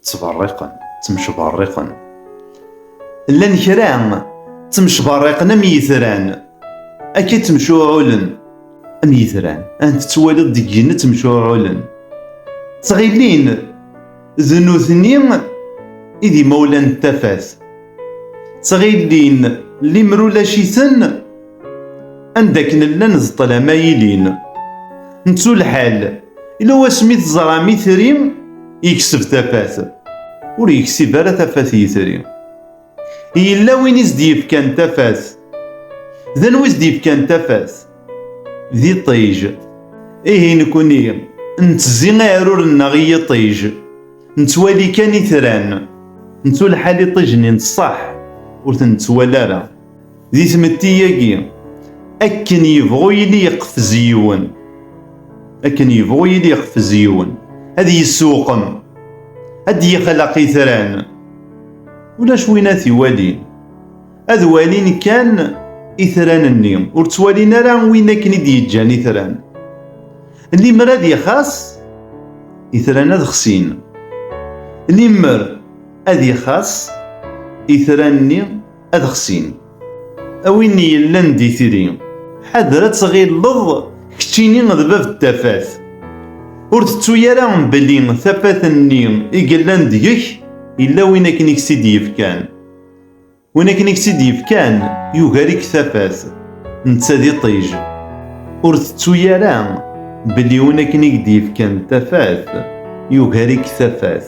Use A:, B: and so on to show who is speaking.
A: ttberriqen ttemcberriqen llan kra ttemcberriqen am yitran akka ttemcuɛulen am yitran ant tettwaliḍ deg yigenni ttemcuɛulen ttɣilin d nutni i d imawlan n tafat ttɣilin limer ulac-iten Anda akken llan d ṭṭlam ay ilin. Nettu lḥal, ila wasmi teẓram itri yekseb tafat, ur yeksib ara tafat yitri. Yella win i s-d-yefkan tafat. D anwa i s-d-yefkan tafat? D iṭij. Ihi nekni, nettezzi aɛrur-nneɣ i yiṭij. Nettwali kan itran. Nettu lḥal iṭij-nni n ṣṣeḥ ur ten-nettwali ara. Di tmetti-agi, akken yebɣu yili yeqfez yiwen, akken yebɣu yili yeqfez yiwen, ad yessuqem, ad d-yexlaq itran, ulac win ad t-iwalin, ad walin kan itran-nni, ur ttwalin ara win akken i d-yeǧǧan itran. Limer ad ixas, itran ad xsin. Limer ad ixas, itran-nni ad xsin. A win yellan d itri, ḥader ad tɣilleḍ keččini d bab n tafat. Ur tettu ara belli tafat-nni i yellan deg-k yella win akken i k-tt-id-yefkan. Win akken i k-tt-id-yefkan yugar-ik tafat, netta d iṭij. Ur tettu ara belli win akken i k-d-yefkan tafat yugar-ik tafat.